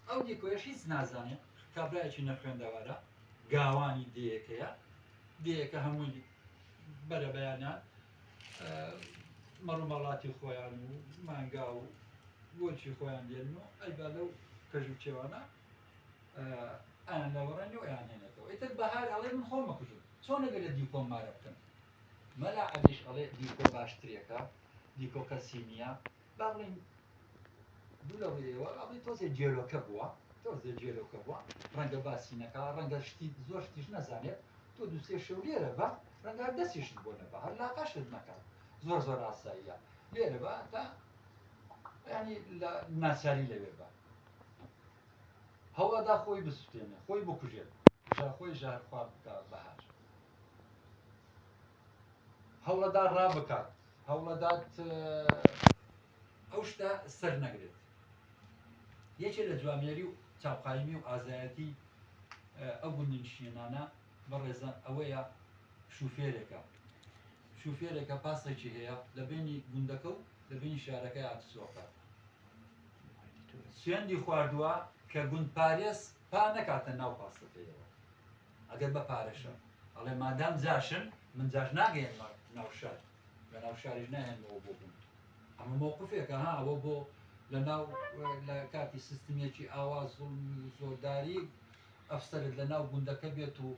ئەو دیکۆیەش هیچ نازانێ کابرایەکی نەخوێندەوارە گاوانی دێیەکەیە دێیەکە هەمووی بەرە بەیانیان مەڕوماڵاتی خۆیان و مانگا و بۆچی خۆیان دێن و ئەیبا لەو کەژ و چێوانە ئەیان لەوەڕێن و ئەیان هێنێتەوە ئیتر بەهار ئەڵێ من خۆم مەکوژم چۆن لەگە لە دیکۆم مارە بکەم مەلا عەلیش ئەڵێ دیکۆ باشترێکە دیکۆ کەسی نییە با بڵێین دوو لە ڕووی ئێوە ئەڵێ تۆزێ جێلۆکە بووە تۆزێ جێلۆکە بووە ڕەنگە باسی نەکا ڕەنگە شتی زۆر شتیش نەزانێت تۆ دووسێ شەو لێرە بە ڕەنگار دەستیشت بۆ نەبە هەر لاقەشت نەکات زۆر زۆر ئاساییە لێرە بە تا ینی لە ناچاری لەوێ بە هەوڵەدا خۆی بسوتێنێ خۆی بکوژێت ژاخۆی ژار خوارد بکە بەهار هەوڵەدا ڕا بکات هەوڵەدات ئەو شتە سەرنەگرێت. یەکێ لە جوامێری و چاوقایمی و ئازایەتی ئەو گوندنشینانە بەڕێزە ئەوەیە شوفێرێکە شوفێرێکە پاسێکی هەیە لە بینی گوندەکە و لە بینی شارەکەی ئاتسۆکە سوێندی خواردووە کە گوندپارێز پا نەکاتە ناو پاسەکەیەوە. ئەگەر بە پارەشە ئەڵێ مادام جاشن من جاش ناگەیەنمە ناو شار لە ناو شاریش نایەنمەوە بۆ بوون ئەمە مۆقفێکە ها ئەوە بۆ لە ناو لە کاتی سیستمێکی ئاوا زوڵمی و زۆرداری ئەفسەرت لە ناو گوندەکە بێت و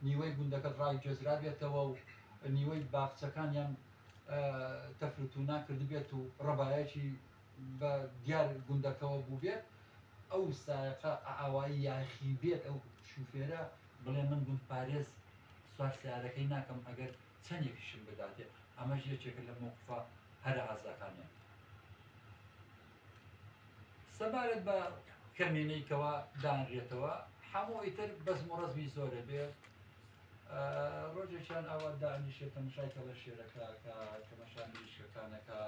نیوەی گوندەکەت ڕای گوێزرا بێتەوە و نیوەی باخچەکانیان تەفروتونا کردبێت و ڕەبایەکی بە دیار گوندەکەوە بووبێت ئەو سایەقە ئائاوایی یاخیبێت ئەو شوفێرە بڵێ من گوند پارێز سوار سیارەکەی ناکەم ئەگەر چەنێکیشم بداتێ ئەمەش یەکێکە لە مەوقفە هەرە ئازاکانیان. سەبارەت بە کەمینەی کەوا دانرێتەوە حەموو ئیتر بەزم و ڕزمی زۆرە بێ ڕۆژێکیان ئاوا دانیشێت تەمەشای کەڵە شێرەکە کە تەمەشا مریشکەکانەکە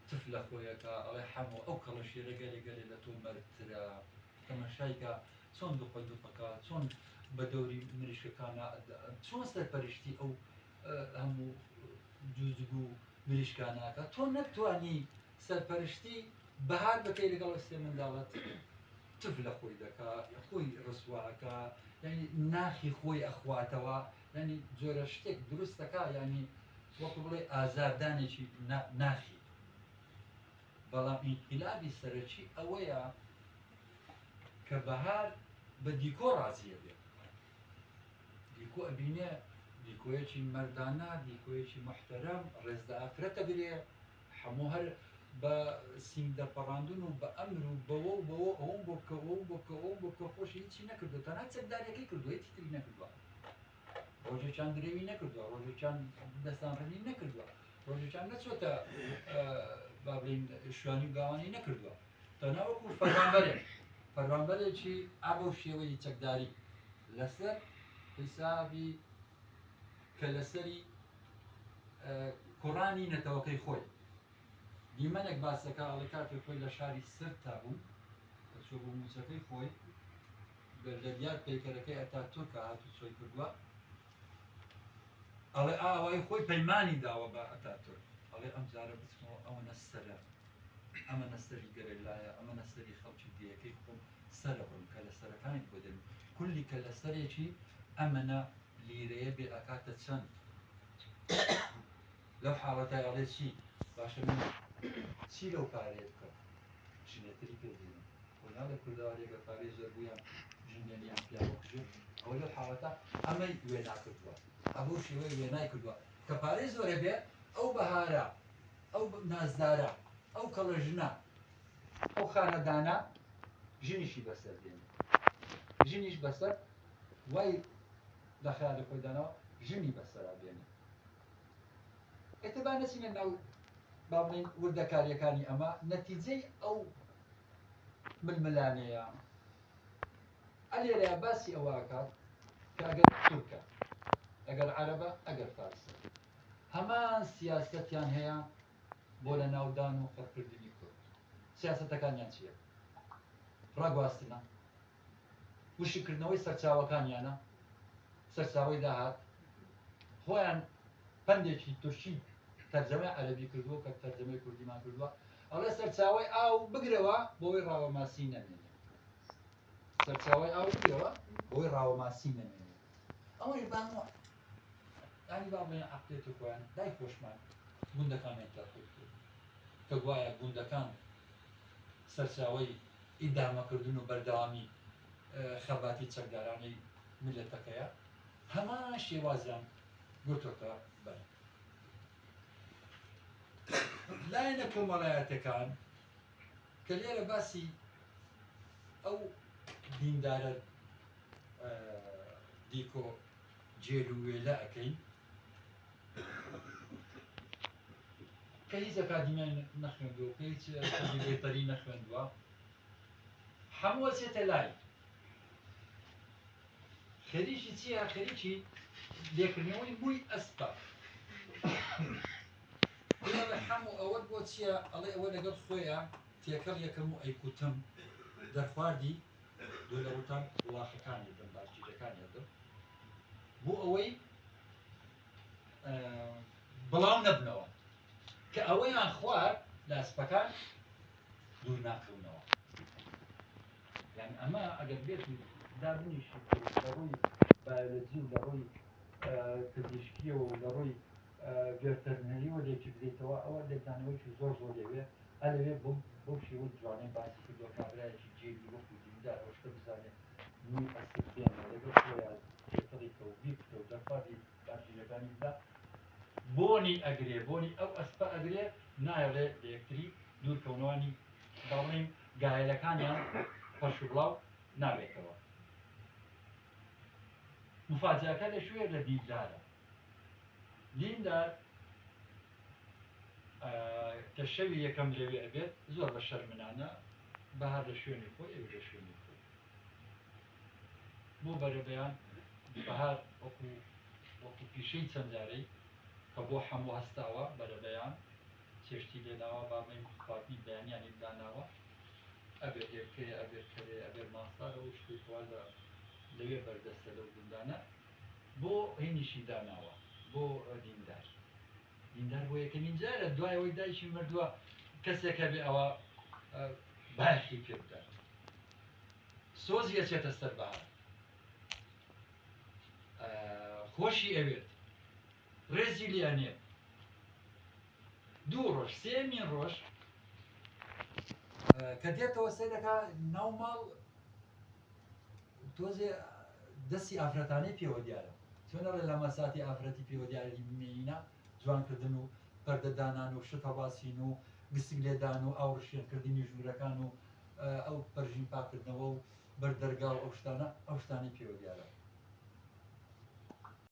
تف لە خۆیەکا ئەڵێ حەمۆ ئەو کەڵە شێرە گەلێ گەلێ لە تۆ مەرد ترە تەمەشای کە چۆن دوقە دوقە کا چۆن بە دەوری مریشکەکانا چۆن سەرپەرشتی ئەو هەموو جوجگ و مریشکانا کە تۆ نەتتوانی سەرپەرشتی بەهار بکەی لەگەڵ ئەو سێ منداڵەت تف لە خۆی دەکا خۆی ڕسوا ئەکا یانی ناخی خۆی ئەخواتەوە یانی جۆرە شتێک دروست دەکا یانی وەکو بڵێ ئازاردانێکی ناخی بەڵام ئینقلابی سەرەکی ئەوەیە کە بەهار بە دیکۆ ڕازیە بێت دیکۆ ئەبینێ دیکۆیەکی مردانە دیکۆیەکی محتەرەم ڕێزدە ئافرەتە برێ هەموو هەر بە سینگ دەرپەڕاندون و بە ئەمر و بەوە و بەوە ئەوەم بۆ بکە ئەوەم بۆ بکە ئەوەم بۆ بکە خۆشی هیچی نەکردوە تەنها چەکداریەکەی کردوە هیچی تری نەکردوە ڕۆژێکیان درێوی نەکردوە ڕۆژێکیان دەستان ڕنی نەکردوە ڕۆژێکیان نەچۆتە با بڵێین شوانی و گاوانی نەکردوە تەنها وەکو فەرمانبەرێک فەرمانبەرێکی ئابە و شێوەی چەکداری لەسەر حیسابی کە لەسەری کوڕانی نەتەوەکەی خۆی. دیمەنێک باس دەکات، ئەڵێ کاتێک خۆی لە شاری سرتا بوو، دەچووە بۆ مووچەکەی خۆی، لە دیار پەیکەرەکەی ئەتاتورکە هاتوچۆی کردووە، ئەڵێ ئاوای خۆی پەیمانی داوە بە ئەتاتورک، ئەڵێ ئەمجارە بچمەوە ئەوەنە سەرە، ئەمەنە سەری گەرەلایە، ئەمەنە سەری خەڵکی دێیەکەی خۆم، سەرە بڕم کەلە سەرەکانیت بۆ دەنێم کولی کەلە سەرێکی ئەمەنە لیرەیە بێ ئەکاتە چەند لەو حاڵەتای ئەڵێ چی باشە من چی لەو پارەیە بکەم ژنێتری پێ دێنم بۆ ناڵێ کوردەوارێگە پارەی زۆر بوویان ژنێنیان پیاوە کوژێت ئەو لەو حاڵەتە ئەمەی وێنا کردووە ئەبوو شێوەی وێنای کردووە کە پارەی زۆرە بێ ئەو بەهارە ئەو نازدارە ئەو کەڵە ژنە ئەو خانەدانە ژنیشی بەسەر دێنێ ژنیش بەسەر وای لە خیالی خۆی داناوە ژنی بەسەرا بێنێ ئێتە با نەچینە ناو با بڵین وردەکاریەکانی ئەمە نەتیجەی ئەو ململانەیە ئەلێرە باسی ئەوەکات کە ئەگەر تورکە ئەگەر عەرەبە ئەگەر فارسە هەمان سیاستیان هەیە بۆ لە ناو دان و قڕ کردنی کورد سیاسەتەکانیان چیە؟ ڕاگواستنە؟ وشک کردنەوەی سەرچاوەکانیانە؟ سەرچاوەی داهات؟ خۆیان پەندێکی تورکی تەرجەمەی عەرەبی کردووە کە تەرجەمەی کوردیمان کردووە ئەڵێ سەرچاوەی ئاو بگرەوە بۆی ڕاوە ماسی نەمێنێ سەرچاوەی ئاو بگرەوە بۆی ڕاوە ماسی نەمێنێ ئەوەی بانوە یانی با بڵێین عەقڵیەتی خۆیان لای خۆشمان گوندەکانیان تیا قووت کرد کە گوایە گوندەکان سەرچاوەی ئیدامەکردن و بەردەوامی خەباتی چەکدارانەی میللەتەکەیە هەمان شێوازیان گرتۆتە بەر. لایەنە کۆمەڵایەتەکان کە لێرە باسی ئەو دیندارە دیکۆ جێل و وێلە ئەکەین کە هیچ ئەکادیمیای نەخوێندووە کە هیچ بێتەری نەخوێندووە هەمووە چێتە لای خەریکی چیە خەریکی لێکردنەوەی مووی ئەسپە بڵێ حەمو ئەوەت بۆ چیە ئەڵێ ئەوە لەگەڵ خۆیا تێکەڵ یەکەم و ئەیکوتم دەرخواردی دۆ لە ڕوتان وڵاخەکان ئەدەم بارکیجەکان ئەدەم بۆ ئەوەی بڵاو نەبنەوە کە ئەوەیان خوار لاسپەکان دوور ناکەونەوە یان ئەمە ئەگەر بێت دابنیش لە ڕووی بایۆلۆجی و لە ڕووی پزیشکیەوە و لە ڕووی گەر تەرمێلی وەرێکی بدەیتەوە ئەوە لێکدانەوەیەکی زۆر زۆری ئەوێ ئەلەوێ بم بەو شێوەی جوانەی باسی کردوە کابرایەکی جێگیر وەکو دیندار ئەو شتە بزانێ نوی ئەسر بێنێ لەگەڵ خۆیا تێکەڵی کە و بیکتە و دەرخوارد ی بارگیرەکانی بدا بۆنی ئەگرێ بۆنی ئەو ئەسپە ئەگرێ نایەڵێ لە یەکتری دوور کەونەوە نی با بڵێین گایەلەکانیان پەرش و بڵاو نابێتەوە مفاجەکە لە کوێ لە دیندارە دیندار کە شەوی یەکەم لەوێ ئەبێت زۆر بە شەرمنانە بەهار لە شوێنی خۆی ئەویش لە شوێنی خۆی بۆ بەرەبەیان بەهار وەکو وەکو پیشەی چەند جارەی کە بۆ حەموو هەستاوە بەرەبەیان چێشتی لێناوە بابین خواردنی بەیانیانی داناوە ئەبێت هێلکەیە ئەبێت کەرێ ئەبێت ماسارە و شتێکوا لە لەوێ بەردەستە لەو گوندانە بۆ هەینیشی داناوە بۆ دیندار دیندار بۆ یەکەمین جارە دوای ئەوەی دایکی مردووە کەسێک هەبێ ئەوە بایەخی پێ بدات سۆزی ئەچێتە سەر بەهار خۆشی ئەوێت ڕێزی لێ ئەنێت دوو ڕۆژ سێمین ڕۆژ کە دێتەوە سێ دەکا ناو ماڵ تۆزێ دەستی ئافرەتانەی پێوە دیارە چۆن ئەڵێ لەمەساتی ئافرەتی پێوە دیاری مێینە جوان کردن و پەردە دانان و شت هەڵواسین و گسک لێدان و ئاو ڕشێن کردنی ژوورەکان و ئەو پەرژین پاک کردنەوە و بەر دەرگا و ئەو شتانە ئەو شتانەی پێوە دیارە.